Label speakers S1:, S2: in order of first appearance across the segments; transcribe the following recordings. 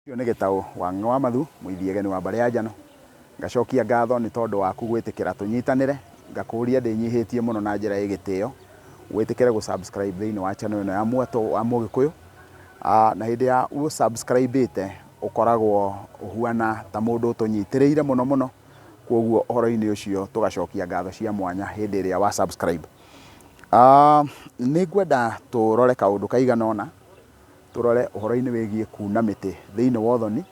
S1: Ũcio nĩ gĩtaũ wa ng'ng'e wa mathu, mũithiageni wa mbarĩ ya njano. Ngacokia ngatho nĩ tondũ waku gwĩtĩkĩra tũnyitanĩre, ngakũũria ndĩnyihĩtie mũno na njĩra ĩ gĩtĩo, wĩtĩkĩre gũ subscribe thĩinĩ wa channel ĩno ya Mwatũ wa Mũgĩkũyũ. Na hĩndĩ ya ũ subscribe ĩte, ũkoragwo ũhuana ta mũndũ ũtũnyitĩrĩire mũno mũno, kwoguo ũhoro-inĩ ũcio tũgacokia ngatho cia mwanya hĩndĩ ĩrĩa wa subscribe. Nĩ ngwenda tũrore kaũndũ kaigana ũna. Tũrore ũhoro-inĩ wĩgiĩ kuuna mĩtĩ thĩinĩ wa ũthoni.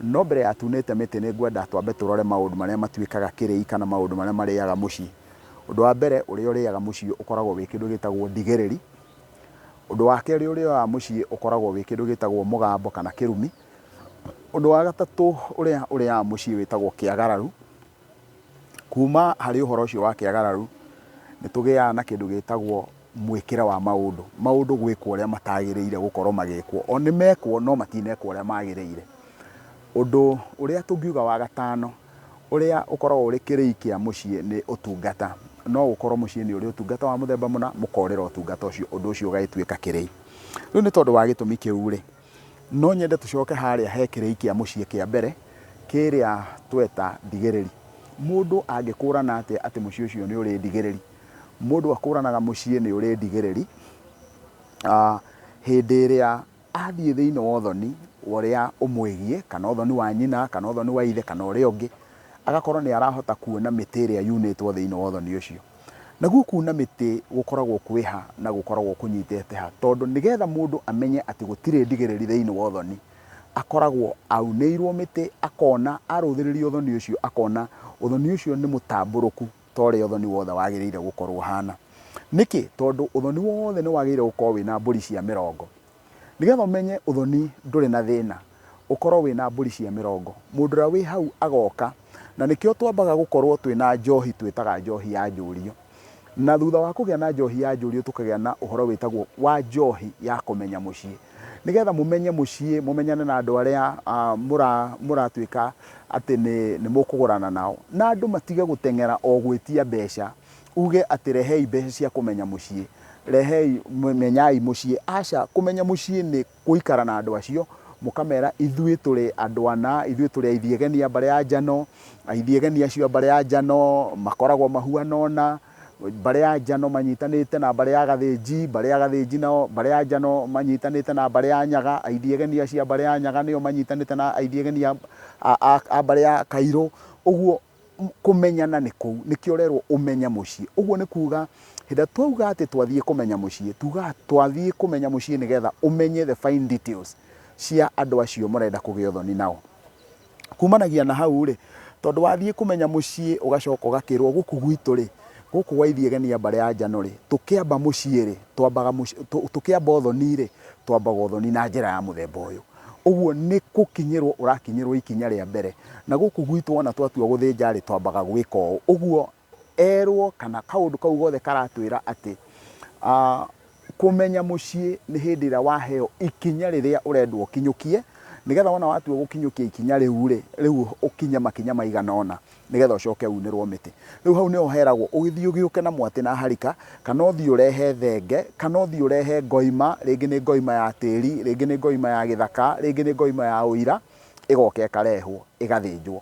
S1: No mbere ya tunĩte mĩtĩ, nĩ ngwenda twambe tũrore maũndũ marĩa matuĩkaga kĩrĩi kana maũndũ marĩa marĩaga mũciĩ. Ũndũ wa mbere ũrĩa ũrĩaga mũciĩ ũkoragwo wĩ kĩndũ gĩtagwo ndigĩrĩri. Ũndũ wa kerĩ ũrĩa ũrĩaga mũciĩ ũkoragwo wĩ kĩndũ gĩtagwo mũgambo kana kĩrumi. Ũndũ wa gatatũ ũrĩa ũrĩaga mũciĩ wĩtagwo kĩagararu. Kuuma harĩ ũhoro ũcio wa kĩagararu, nĩ tũgĩaga na kĩndũ gĩtagwo mwĩkĩre wa maũndũ, maũndũ gwĩkwo ũrĩa matagĩrĩire gũkorũo magĩkwo. O nĩ mekwo no matinekwo ũrĩa magĩrĩire. Ũndũ ũrĩa tũngiuga wa gatano ũrĩa ũkoragwo ũrĩ kĩrĩi kĩa mũciĩ nĩ ũtungata. No gũkorũo mũciĩ nĩ ũrĩ ũtungata wa mũthemba mũna, mũkorĩra ũtungata ũcio, ũndũ ũcio ũgagĩtuĩka kĩrĩi. Rĩu nĩ tondũ wa gĩtũmi kĩu rĩ, No nyende tũcoke harĩa he kĩrĩi kĩa mũciĩ kĩa mbere kĩrĩa tweta ndigĩrĩri. Mũndũ angĩkũrana atĩa atĩ mũciĩ ũcio nĩ ũrĩ ndigĩrĩri? Mũndũ akũranaga mũciĩ nĩ ũrĩ ndigĩrĩri hĩndĩ ĩrĩa athiĩ thĩinĩ wa ũthoni wa ũrĩa ũmwĩgiĩ, kana ũthoni wa nyina, kana ũthoni wa ithe, kana ũrĩa ũngĩ, agakorwo nĩ arahota kuona mĩtĩ ĩrĩa yunĩtwo thĩinĩ wa ũthoni ũcio. Naguo kuuna mĩtĩ gũkoragwo kwĩ ha na gũkoragwo kũnyitĩte ha? Tondũ nĩgetha mũndũ amenye atĩ gũtirĩ ndigĩrĩri thĩinĩ wa ũthoni, akoragwo aunĩirwo mĩtĩ, akona, arũthĩrĩria ũthoni ũcio akona ũthoni ũcio nĩ mũtambũrũku ta ũrĩa ũthoni wothe wagĩrĩire gũkorwo ũhana. Nĩkĩ? Tondũ ũthoni wothe nĩ wagĩrĩire gũkorwo wĩna mbũri cia mĩrongo, Nĩgetha ũmenye ũthoni ndũrĩ na thĩna, ũkorwo wĩ na mbũri cia mĩrongo. Mũndũ ũrĩa wĩ hau agoka, na nĩkĩo twambaga gũkorwo twĩ na njohi twĩtaga njohi ya njũriũ. Na thutha wa kũgĩa na njohi ya njũriũ tũkagĩa na ũhoro wĩtagwo wa njohi ya kũmenya mũciĩ. Nĩgetha mũmenye mũciĩ, mũmenyane na andũ arĩa mũratuĩka atĩ nĩ mũkũgũrana nao. Na andũ matige gũteng'era o gwĩtia mbeca. Uuge atĩ rehei mbeca cia kũmenya mũciĩ, rehei, menyai mũciĩ. Aca, kũmenya mũciĩ nĩ gũikara na andũ acio, mũkamera ithuĩ tũrĩ andũ ana, ithuĩ tũrĩ aithiageni a mbarĩ ya njano, aithiageni acio a mbarĩ ya njano makoragwo mahuana ũna, mbarĩ ya njano manyitanĩte na mbarĩ ya gathĩnji, mbarĩ ya gathĩnji nao, mbarĩ ya njano manyitanĩte na mbarĩ ya nyaga, aithiageni acio a mbarĩ ya nyaga nĩo manyitanĩte na aithiageni a mbarĩ ya kairũ, ũguo. Kũmenyana nĩ kũu. Nĩkĩo ũrerwo ũmenye mũciĩ. Ũguo nĩ kuuga hĩndĩ ĩrĩa twauga atĩ twathiĩ kũmenya mũciĩ, tuugaga twathiĩ kũmenya mũciĩ nĩgetha ũmenye the fine details cia andũ acio mũrenda kũgĩa ũthoni nao. Kumanagia na hau-rĩ, tondũ wathiĩ kũmenya mũciĩ ũgacoka ũgakĩrwo gũkũ gwitũ-rĩ, gũkũ gwa Ithiĩ Genia Mbare ya Njano-rĩ, tũkĩamba mũciĩ-rĩ, twambaga mũciĩ, tũkĩamba ũthoni-rĩ, twambaga ũthoni na njĩra ya mũthemba ũyũ. Ũguo nĩ gũkinyĩrũo ũrakinyĩrũo ikinya rĩa mbere. Na gũkũ gwitũ wona twatua gũthĩnja-rĩ, twambaga gwĩka ũũ. Ũguo erũo kana kaũndũ kau gothe karatwĩra atĩ kũmenya mũciĩ nĩ hĩndĩ ĩrĩa waheo ikinya rĩrĩa ũrendwo ũkinyũkie, nĩgetha wona watua gũkinyũkia ikinya rĩu-rĩ, rĩu ũkinye makinya maigana ũna. nĩgetha ũcoke unĩrwo mĩtĩ. Rĩu hau nĩho heragwo ũgĩthiĩ ũgĩũke na mwatĩ na harika, kana ũthiĩ ũrehe thenge, kana ũthiĩ ũrehe ngoima, rĩngĩ nĩ ngoima ya tĩri, rĩngĩ nĩ ngoima ya gĩthaka, rĩngĩ nĩ ngoima ya ũira, ĩgoka ĩkarehwo ĩgathĩnjwo.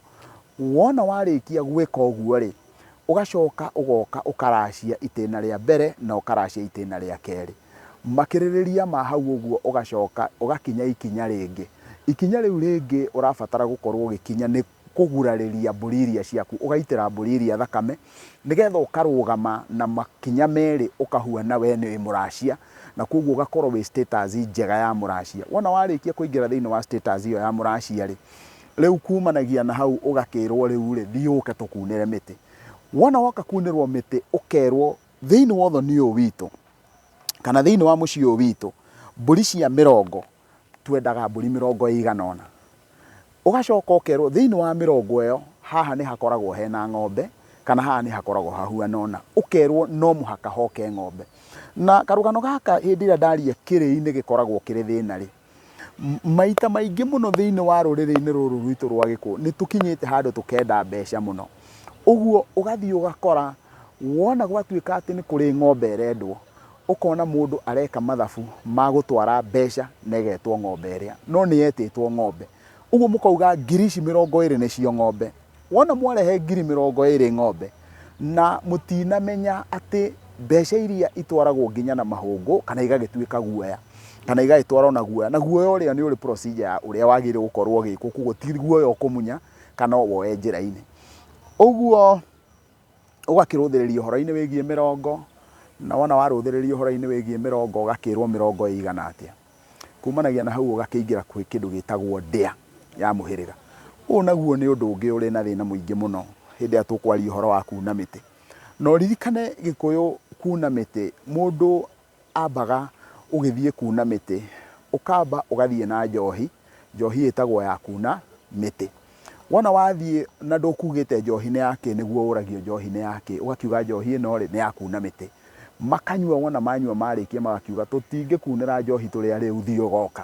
S1: Wona warĩkia gwĩka ũguo-rĩ, ũgacoka ũgoka ũkaracia itĩna rĩa mbere na ũkaracia itĩna rĩa kerĩ. Makĩrĩrĩria ma hau ũguo ũgacoka ũgakinya ikinya rĩngĩ. Ikinya rĩu rĩngĩ ũrabatara gũkorwo ũgĩkinya nĩ kũgurarĩria mbũri iria ciaku, ũgaitĩra mbũri iria thakame, nĩgetha ũkarũgama na makinya merĩ ũkahuana we nĩ mũracia, na kwoguo ũgakorwo wĩ status njega ya mũracia. Wona warĩkia kũingĩra thĩinĩ wa status ĩyo ya mũracia-rĩ, rĩu kumanagia na hau ũgakĩrwo rĩu-rĩ, thiĩ ũke tũkunĩre mĩtĩ. Wona woka kunĩrwo mĩtĩ ũkerwo thĩinĩ wa ũthoni ũyũ witũ, kana thĩinĩ wa mũciĩ ũyũ witũ, mbũri cia mĩrongo Twendaga mbũri mĩrongo ĩigana ũna. Ũgacoka ũkerwo thĩinĩ wa mĩrongo ĩyo haha nĩ hakoragwo hena ng'ombe, kana haha nĩ hakoragwo hahuana ũna. Ũkerwo no mũhaka hoke ng'ombe. Na karũgano gaka hĩndĩ ĩrĩa ndaria kĩrĩi-inĩ gĩkoragwo kĩrĩ thĩna rĩ, maita maingĩ mũno thĩinĩ wa rũrĩrĩ-inĩ rũrũ rwitũ rwa Gĩkũyũ, nĩ tũkinyĩte handũ tũkenda mbeca mũno. Ũguo ũgathiĩ ũgakora wona gwatuĩka atĩ nĩ kũrĩ ng'ombe ĩrendwo, Ũkona mũndũ areka mathabu ma gũtwara mbeca na ĩgetwo ng'ombe ĩrĩa, no nĩ yetĩtwo ng'ombe. Ũguo mũkauga ngiri ici mĩrongo ĩrĩ nĩcio ng'ombe. Wona mwarehe ngiri mĩrongo ĩrĩ ng'ombe, na mũtinamenya atĩ mbeca iria itwaragwo nginya na mahũngũ, kana igagĩtuĩka guoya, kana igagĩtwarwo na guoya, na guoya ũrĩa nĩ ũrĩ procedure ya ũrĩa wagĩrĩirwo gũkorwo ũgĩkwo, kũguo ti guoya ũkũmunya kana ũwoe njĩra-inĩ. Ũguo ũgakĩrũthĩrĩria ũhoro-inĩ wĩgiĩ mĩrongo, na wona warũthĩrĩria ũhoro-inĩ wĩgiĩ mĩrongo ũgakĩrwo mĩrongo ĩigana atĩa. Kumanagia na hau ũgakĩingĩra kwĩ kĩndũ gĩtagwo ndĩa ya mũhĩrĩga. Ũyũ naguo nĩ ũndũ ũngĩ ũrĩ na thĩna mũingĩ mũno hĩndĩ ĩrĩa tũkwaria ũhoro wa kuna mĩtĩ. Na ũririkane Gĩkũyũ kuna mĩtĩ mũndũ Ambaga ũgĩthiĩ kuuna mĩtĩ. Ũkamba ũgathiĩ na njohi, njohi ĩtagwo ya kuuna mĩtĩ. Wona wathiĩ na ndũkuugĩte njohi nĩ ya kĩ, nĩguo ũragio njohi nĩ ya kĩ, ũgakiuga njohi ĩno-rĩ, nĩ ya kuuna mĩtĩ. Makanyua wona manyua marĩkia magakiuga, tũtingĩkuunĩra njohi tũrĩ a rĩu thiĩ ũgoka.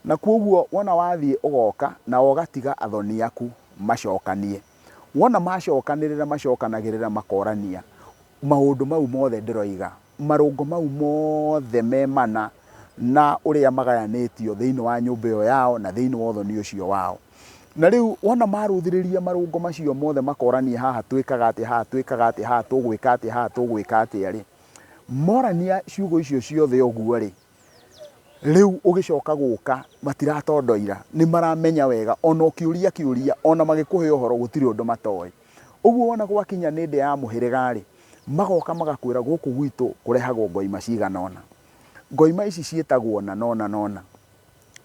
S1: Na kwoguo wona wathiĩ ũgoka, nao ũgatiga athoni aku macokanie. Wona macokanĩrĩra macokanagĩrĩra makorania maũndũ mau mothe ndĩroiga. marũngo mau mothe me mana na ũrĩa magayanĩtio thĩinĩ wa nyũmba ĩyo yao na thĩinĩ wa ũthoni ũcio wao. Na rĩu wona marũthĩrĩria marũngo macio mothe makorania haha twĩkaga atĩa, haha twĩkaga atĩa, haha tũgwĩka atĩa, haha tũgwĩka atĩa-rĩ, morania ciugo icio ciothe ũguo-rĩ, Rĩu ũgĩcoka gũka matiratondoira, nĩ maramenya wega ona ũkĩũria kĩũria ona magĩkũhe ũhoro gũtirĩ ũndũ matoĩ. Ũguo wona gwakinya nĩ ndĩa ya mũhĩrĩga rĩ, magoka magakwĩra gũkũ gwitũ kũrehagwo ngoima cigana ũna. Ngoima ici ciĩtagwo ũna na ũna na ũna.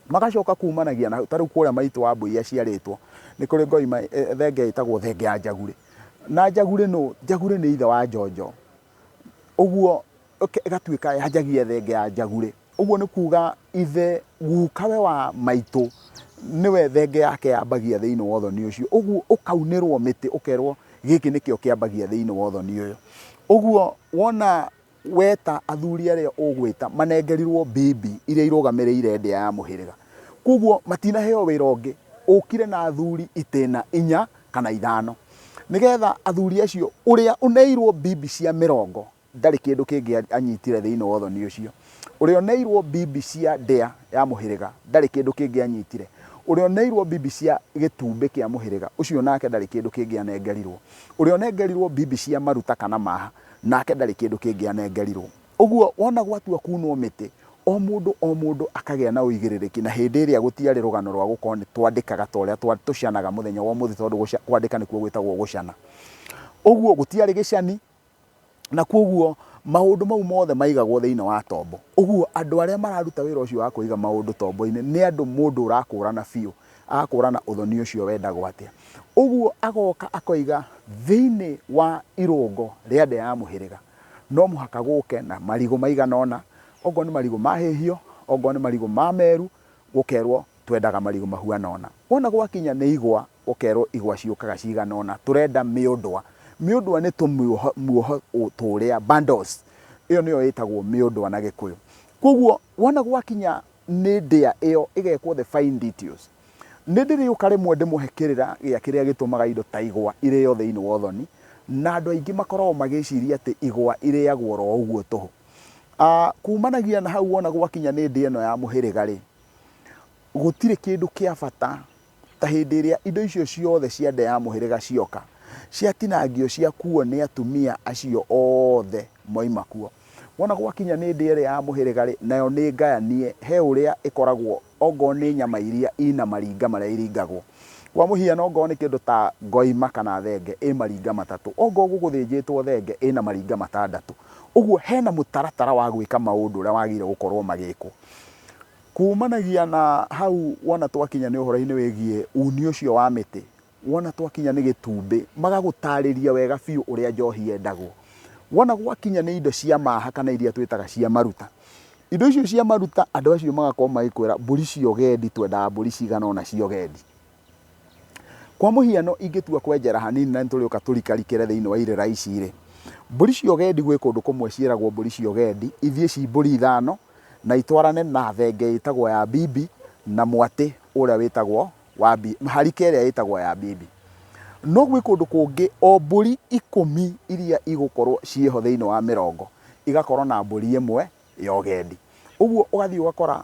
S1: Magacoka kumanagia na hau, ta rĩu kũrĩa maitũ Wambũi aciarĩtwo, nĩ kũrĩ ngoima thenge ĩtagwo thenge ya njagurĩ. Na njagurĩ nũ? Njagurĩ nĩ ithe wa njonjo. Ũguo ĩke- ĩgatuĩka yanjagia thenge ya njagure ũguo nĩ kuuga ithe gukawe wa maitũ nĩwe thenge yake yambagia thĩinĩ wa ũthoni ũcio ũguo ũkaunĩrwo mĩtĩ ũkerwo gĩkĩ nĩkĩo kĩambagia thĩinĩ wa ũthoni ũyũ ũguo wona weta athuri arĩa ũgwĩta manengerirwo mbibi iria irũgamĩrĩire ndĩa ya mũhĩrĩga koguo matinaheo wĩra ũngĩ ũkire na athuri itĩna inya kana ithano nĩgetha athuri acio ũrĩa ũneirwo mbibi cia mĩrongo Ndarĩ kĩndũ kĩngĩ anyitire thĩinĩ wa ũthoni ũcio. Ũrĩa oneirwo mbimbi cia ndĩa ya mũhĩrĩga, ndarĩ kĩndũ kĩngĩ anyitire. Ũrĩa oneirwo mbimbi cia gĩtumbĩ kĩa mũhĩrĩga, ũcio nake ndarĩ kĩndũ kĩngĩ anengerirwo. Ũrĩa onengerirwo mbimbi cia maruta kana maaha, nake ndarĩ kĩndũ kĩngĩ anengerirwo. Ũguo wona gwatua kuunwo mĩtĩ, o mũndũ o mũndũ akagĩa na ũigĩrĩrĩki, na hĩndĩ ĩrĩa gũtiarĩ rũgano rwa gũkorwo nĩ twandĩkaga ta ũrĩa tũcanaga mũthenya wa ũmũthĩ tondũ gũca, kwandĩka nĩkuo gwĩtagwo gũcana. Ũguo gũtiarĩ gĩcani, Na kwoguo maũndũ mau mothe maigagwo thĩinĩ wa tombo. Ũguo andũ arĩa mararuta wĩra ũcio wa kũiga maũndũ tombo-inĩ nĩ andũ mũndũ ũrakũrana biũ, agakũrana ũthoni ũcio wendagwo atĩa. Ũguo agoka akoiga thĩinĩ wa irũngo rĩa ndĩa ya mũhĩrĩga no mũhaka gũke na marigũ maigana ũna, okorwo nĩ marigũ mahĩhio, okorwo nĩ marigũ ma meru, gũkerwo twendaga marigũ mahuana ũna. Wona gwakinya nĩ igwa Ũkerwo igwa ciũkaga cigana ũna. Tũrenda mĩũndwa. Mĩũndwa nĩ tũmuoho muoho tũrĩa, bundles. Ĩyo nĩyo ĩtagwo mĩũndwa na Gĩkũyũ. Kwoguo wona gwakinya nĩ ndĩa ĩyo ĩgekwo the fine details, nĩndĩrĩũka rĩmwe ndĩmũhe kĩrĩra gĩa kĩrĩa gĩtũmaga indo ta igwa irĩo thĩinĩ wa ũthoni, na andũ aingĩ makoragwo magĩciria atĩ igwa irĩagwo oro ũguo tũhũ. Kuumanagia na hau wona gwakinya nĩ ndĩa ĩno ya mũhĩrĩga-rĩ, gũtirĩ kĩndũ kĩa bata Ta hĩndĩ ĩrĩa indo icio ciothe cia nda ya mũhĩrĩga cioka, ciatinangio ciakuuo nĩ atumia acio othe moima kuo. Wona gwakinya nĩ ndĩa ĩrĩa ya mũhĩrĩga-rĩ, nayo nĩ ngayanie he ũrĩa ĩkoragwo ongorwo nĩ nyama iria ina maringa marĩa iringagwo. Kwa mũhiano ongorwo nĩ kĩndũ ta ngoima kana thenge ĩ maringa matatũ, ongorwo gũgũthĩnjĩtwo thenge ĩna maringa matandatũ. Ũguo hena mũtaratara wa gwĩka maũndũ ũrĩa wagĩrĩire gũkorwo magĩkwo. Kuumanagia na hau, wona twakinya nĩ ũhoro-inĩ wĩgiĩ uuni ũcio wa mĩtĩ, wona twakinya nĩ gĩtumbĩ, magagũtaarĩria wega biũ ũrĩa njohi yendagwo. Wona gwakinya nĩ indo cia maaha kana iria twĩtaga cia maruta, indo icio cia maruta, andũ acio magakorwo magĩkwĩra, mbũri cia ũgendi, twendaga mbũri cigana ũna cia ũgendi. Kwa mũhiano ingĩtua kwenjera hanini na nĩtũrĩũka tũrikarikĩre thĩinĩ wa irĩra ici-rĩ, mbũri cia ũgendi gwĩ kũndũ kũmwe ciĩragwo mbũri cia ũgendi ithiĩ ci mbũri ithano na itwarane na thenge ĩtagwo ya bibi na mwatĩ ũrĩa wĩtagwo wa bibi, harika ĩrĩa ĩtagwo ya bibi. No gwĩ kũndũ kũngĩ o mbũri ikũmi iria igũkorwo ciĩho thĩinĩ wa mĩrongo igakorwo na mbũri ĩmwe ya ũgendi. Ũguo ũgathiĩ ũgakora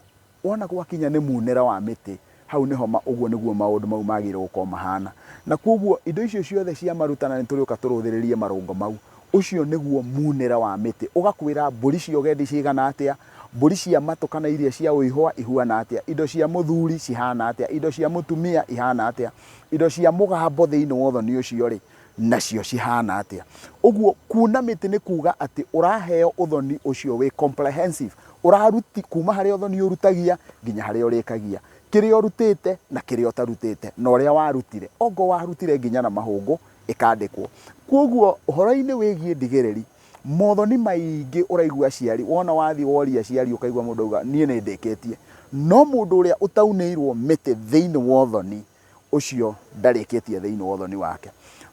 S1: Wona gwakinya nĩ muunĩre wa mĩtĩ, hau nĩho ma, ũguo nĩguo maũndũ mau maagĩrĩirũo gũkorũo mahaana. Na kwoguo, indo icio ciothe cia maruta, na nĩ tũrĩũka tũrũthĩrĩrie marũngo mau, ũcio nĩguo muunĩre wa mĩtĩ. Ũgakwĩra mbũri cia ũgendi cigana atĩa, mbũri cia matũ kana iria cia ũihũa ihuana atĩa, indo cia mũthuri cihaana atĩa, indo cia mũtumia ihaana atĩa, indo cia mũgambo thĩinĩ wa ũthoni ũcio-rĩ, nacio cihana atia uguo kuuna miti ni kuga ati uraheo uthoni ucio wi comprehensive uraruti kuma hari uthoni urutagia nginya hari urikagia kiri urutite na kiri utarutite na uria warutire ongo warutire nginya na mahungu ikandikwo koguo uhoro-ini wigie ndigiriri mothoni maingi uraigua aciari wona wathi woria aciari ukaigua mundu auga nie ni ndikitie no mundu uria utaunirwo miti thiini wa uthoni ũcio ndarĩkĩtie thĩinĩ wa ũthoni wake.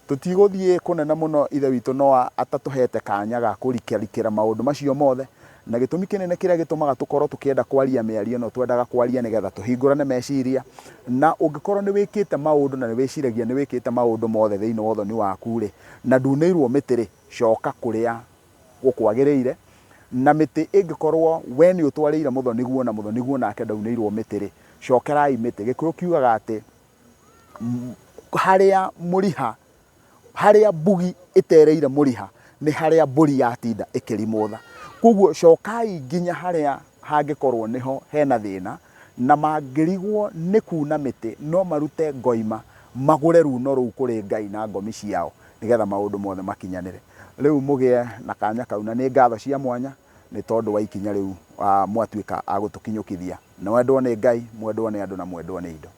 S1: Tũtigũthiĩ kũnene mũno, Ithe witũ no atatũheete kanya ga kũrikarikĩra maũndũ macio mothe, na gĩtũmi kĩnene kĩrĩa gĩtũmaga tũkorũo tũkĩenda kwaria mĩario ĩno twendaga kwaria nĩ getha tũhingũrane meciria. Na ũngĩkorũo nĩ wĩkĩte maũndũ na nĩ wĩciragia nĩ wĩkĩte maũndũ mothe thĩinĩ wa ũthoni waku-rĩ, na nduunĩirũo mĩtĩ-rĩ, coka kũrĩa gũkwagĩrĩire, na mĩtĩ ĩngĩkorwo wee nĩ ũtwarĩire mũthoni-guo na mũthoni-guo nake ndaunĩirwo mĩtĩ-rĩ, cokerai mĩtĩ. Gĩkũyũ kiugaga atĩ, harĩa mũriha, harĩa mbugi ĩtereire mũriha nĩ harĩa mbũri yatinda ĩkĩrimũtha. Kũguo cokai nginya harĩa hangĩkorwo nĩho hena thĩna, na mangĩrigwo nĩ kuuna mĩtĩ no marute ngoima, magũre ruuno rũu kũrĩ Ngai na ngomi ciao. nĩgetha maũndũ mothe makinyanĩre. Rĩu mũgĩe na kanya kau, na nĩ ngatho cia mwanya nĩ tondũ wa ikinya rĩu mwatuĩka a gũtũkinyũkithia. Mwendwo nĩ Ngai, mwendwo nĩ andũ, na mwendwo nĩ indo.